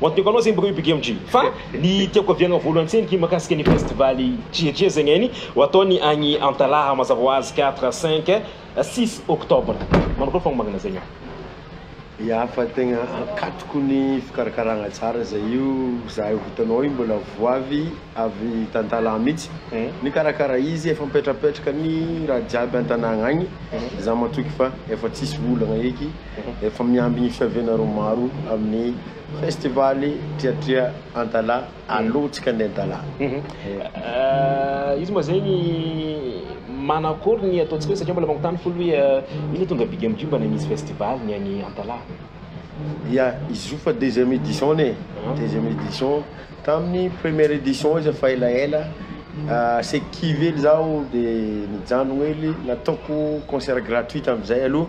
What Beko anao zegny baka io Big MJ. Fa ny tiako aviagna voalohany tsendriky mahakasika ny festival Chiachia zegny any ho ataony agny Antalaha mazava ho azy quatre, cinq, six octobre. Manao koa fagnomagnana zegny aho. Ya fa tegna ankatoko ny fikarakaragna tsara zay io zahay ho vitanao io mbola vo avy avy tantalaha mitsy nikarakara izy efa mipetrapetraka ny raha jiaby antanagna agny za matoky fa efa tsisy olagna eky Efa mihamby ny fiavianareo maro amin'ny festival Triatria Antala alou tsika andeha Antala. Izy moa zegny manakory ny ataontsika hoe satria mbola magnontany folo hoe ino tonga big amiko mba misy festival ny any Antala. Ya, izy io fa deuxième édition ny e, deuxième édition, tamin'ny première édition izy efa elaela asaiky kivy hely zaho de nijanogno hely nataoko concert gratuit tamin'izay aloha.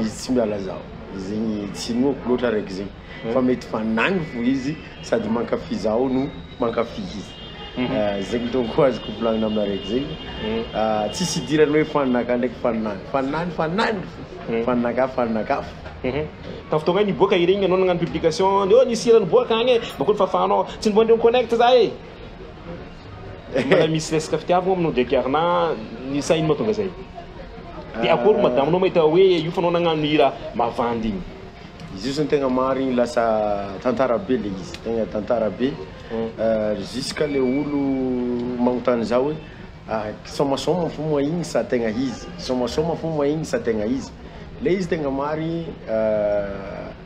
izy tsy miala zaho zegny tsy inoako loatra araiky zegny mhm. fa mety fa nagny fo izy sady mankafy zaho no mankafy izy mhm. ah, zegny donko azoko volagnina amina araiky zegny mhm. ah, tsisy idirany hoe fanaka ndraiky fanany fanany fanany fo fanaka fanaka fo ka fotoagna niboaka iregny anao nagnano publication ndeo nisy hira niboaka agny e bakony fafanao tsy nivoandreo connect za e Mbola misy resaka fitiavagna aminao ndraiky ary na ny sahiny mahatonga zay? De akôry madamo nao mahita hoe io fa anao nagnano hira mavandy igny? Izy io zany tegna marigny lasa tantara be le izy, tegna tantara be jusqu'à le olo magnontany za hoe sômasôma fo moa igny sa tegna izy, sômasôma fo moa igny sa tegna izy? Le izy tegna marigny.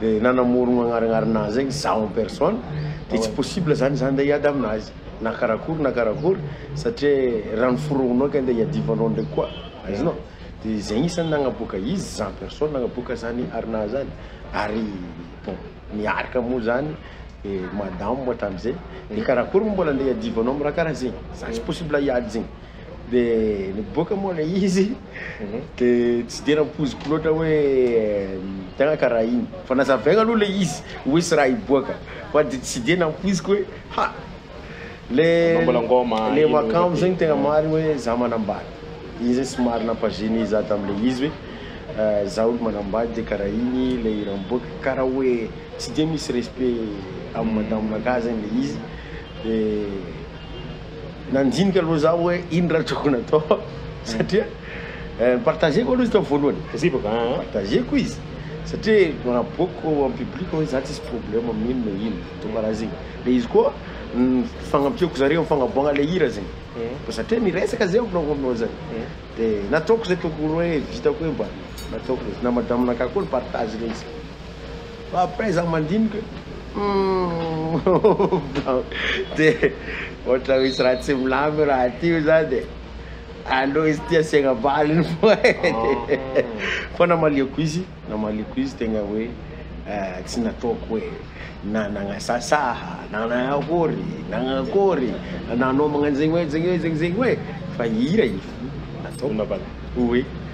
dia nanamorogno agnarignarina azy zegny zaho en personne dia tsy possible zany za ndeha hiady aminazy na karakory na karakory satria raha noforognonao ka ndeha hiadivanao ndraiky koa azonao dia zay isan'ny nagnaboaka izy za en personne nagnaboaka zany arinahy zany ary bon niaraka moa zany madamo hatramin'izay dia karakory moa mbola ndeha hiadivanao amin'ny raha karaha zegny za tsy possible hiady zegny Dia niboaka moa ilay izy, dia tsy dia nampoiziko loatra hoe tegna karaha igny. Fa nazavaigna aloha ilay izy hoe tsy raha hiboaka, fa dia tsy dia nampoiziko hoe ha! Le le makambo zegny tegna marigny hoe za manambady. Igny zay somary nampagener za tamin'ilay izy hoe za olo manambady dia karaha igny ilay hira miboaka. Karaha hoe tsy dia misy respect amin'ny madamonakahy zegny ilay izy. Nandinika aloha zaho hoe ino raha tokony atao satria ni-partager-ko aloha izy tao voalohany. Ni-partager-ko izy satria naboakiko en public hoe za tsisy problème amin'ino na ino de karaha zegny. De izy koa ni-fagnampiako zareo am fagnaboahagna le hira zegny. Koa satria niresaka zay aminao aminao zay de nataoko zay tokony hoe vitako hoe mba nataoko le izy. Na madame-nakah koa ni-partage le izy. Fa après za mandinika hoe de ohatra misy raha tsy milamin io raha ty io zany e, aleo izy ty asiagna valiny foagna e, fa namaliako izy, namaliako izy tegna hoe tsy nataoko hoe na nagnasasaha na nagnakory nagnakory nanao magnanzegny hoe zegny hoe zegny zegny hoe fa hira io fô nataoko hoe.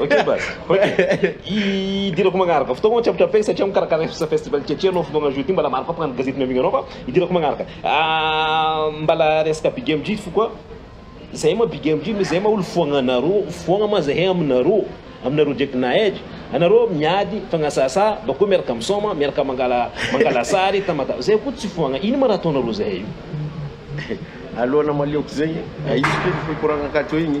Ok baz, ok. Idirako magnaraka. Fotoagna ô tsapatra fegny satria mikarakara resaka festival Tchetche anao fotoagna jour ty mbala maro koa mpagnano gazety miavigny anao fa idirako magnaraka. Mbala resaka big MJ ty fo koa, zahay moa big MJ misy zahay moa olo foagna anareo, foagna moa zahay aminareo, aminareo ndraiky nahay, anareo miady fagnasasa bakeo miaraka misaoma, miaraka mangala mangala sary tamata, zahay koa tsy foagna, ino ma raha ataonareo zahay io? Alona maleoko zegny, aiza koa ny fikoragna akato igny?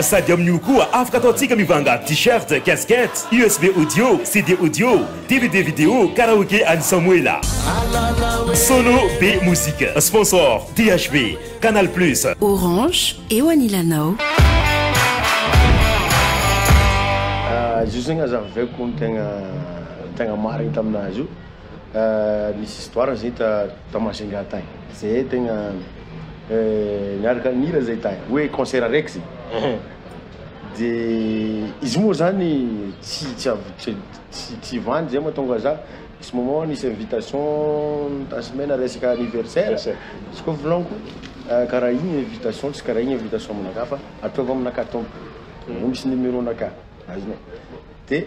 Sady amin'io koa afaka ataontsika mivanga t-shirt, casquette, usb audio, CD audio, dvd vidéo, karaoke an'i Samoela. Solo be musique. Sponsor, DHB, Canal Plus. Orange, eo anilanao. Zio zegny azavaiko ny tegna tegna marigny tamin'azy io. Nisy histoire zay ta ta Majunga tany zay tegna niaraka nihira zay tany hoe concert araiky zay de izy moa zany tsy tsy avy tsy tsy tsy vandy zay mahatonga za nisy moment nisy invitation tasimena resaka anniversaire Yes, sir. izy koa volagniko karaha igny invitation tsy karaha igny invitation aminakahy fa ataovy aminakahy tompoko mbô misy numéro-nakah azonao de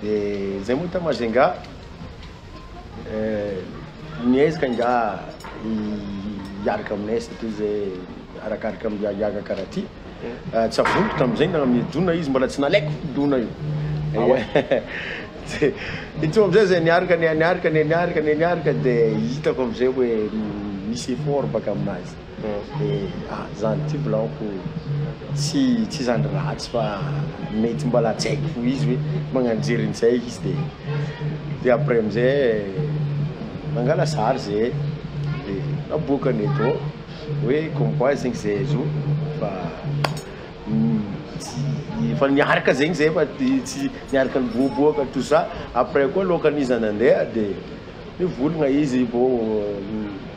Dia izay moa tao Majunga eh, miezaka ingahy hiaraka aminay satria izay arakaraka amin'ny hiahiaga karaty. Eh, tsy avoniko tamin'izay na amin'ny dona izy mbola tsy nalaiko dona io. Ah ouais. Tsy- Intsony amin'izay izay niaraka ny niaraka ny niaraka ny niaraka dia hitako amin'izay hoe misy effort baka aminazy. Dia ah zany ty volagniko tsy tsy zany ratsy fa mety mbola tsy haiko fo izy hoe magnano jery nizay izy de de après amizay nangala sary ze de naboakany eto hoe comme quoi zegny ze zo fa tsy efa niaraka zegny zay fa de tsy niaraka niboaboaka tout ça après koa loakan'iza nandeha de nivolagna izy bô.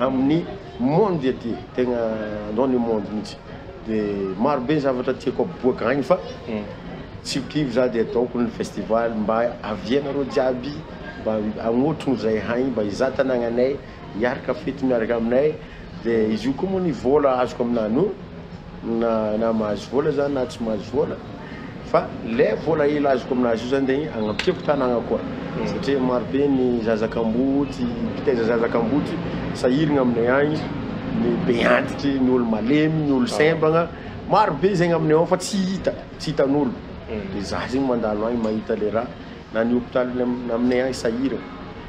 amin'ny monde aty tegna dans le monde mihitsy de maro be ny zavatra tiako aboaka agny fa tsy ho kivy za de ataoko ny festival mba avia nareo jiaby mba agnotrogno zay haigny mba hizaha tanagnanay hiaraka fety miaraka aminay de izy io koa moa ny vôla azoko aminany io na na mahazo vola za na tsy mahazo vola fa le vola hely azoko aminazy io zany de agnampiako tanagna koa satria maro be ny zaza kamboty mpitaiza zaza kamboty sahirigna aminay agny ny be antitry ny olo malemy ny olo sembagna maro be zegny aminay ao fa tsy hita tsy hitan'olo de za zegny mandalo agny mahita le raha na ny hopitaly aminay agny sahiragna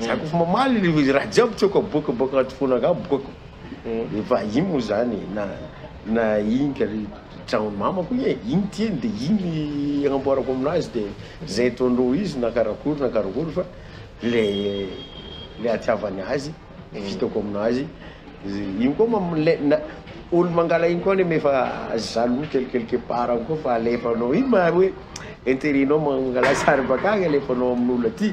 Za kôfa mamaly le izy raha jiaby tiako aboaka bôka agnaty fôna akao aboako efa igny moa zany e na na igny kar tragnon'i mamako igny e igny tiany de igny agnamboarako aminazy de zay ataondreo izy na karakory na karakory fa le le atiavany azy de vitako aminazy igny koa mam- le na olo mangala igny koa nefa jaloux kel quelque part agny koa fa alefanao igny maro hoe interet-nao mangalà sary bakagny alefanao amin'olo aty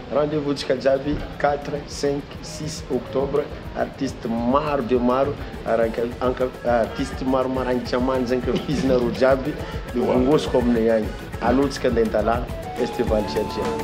Rendez-vous ntsika jiaby quatre, cinq, six octobre artiste maro dia maro artistes maro marainga manja ankafizinareo jiaby mivongosoko aminay agny allo ntsika nday dala festival jiajiaby.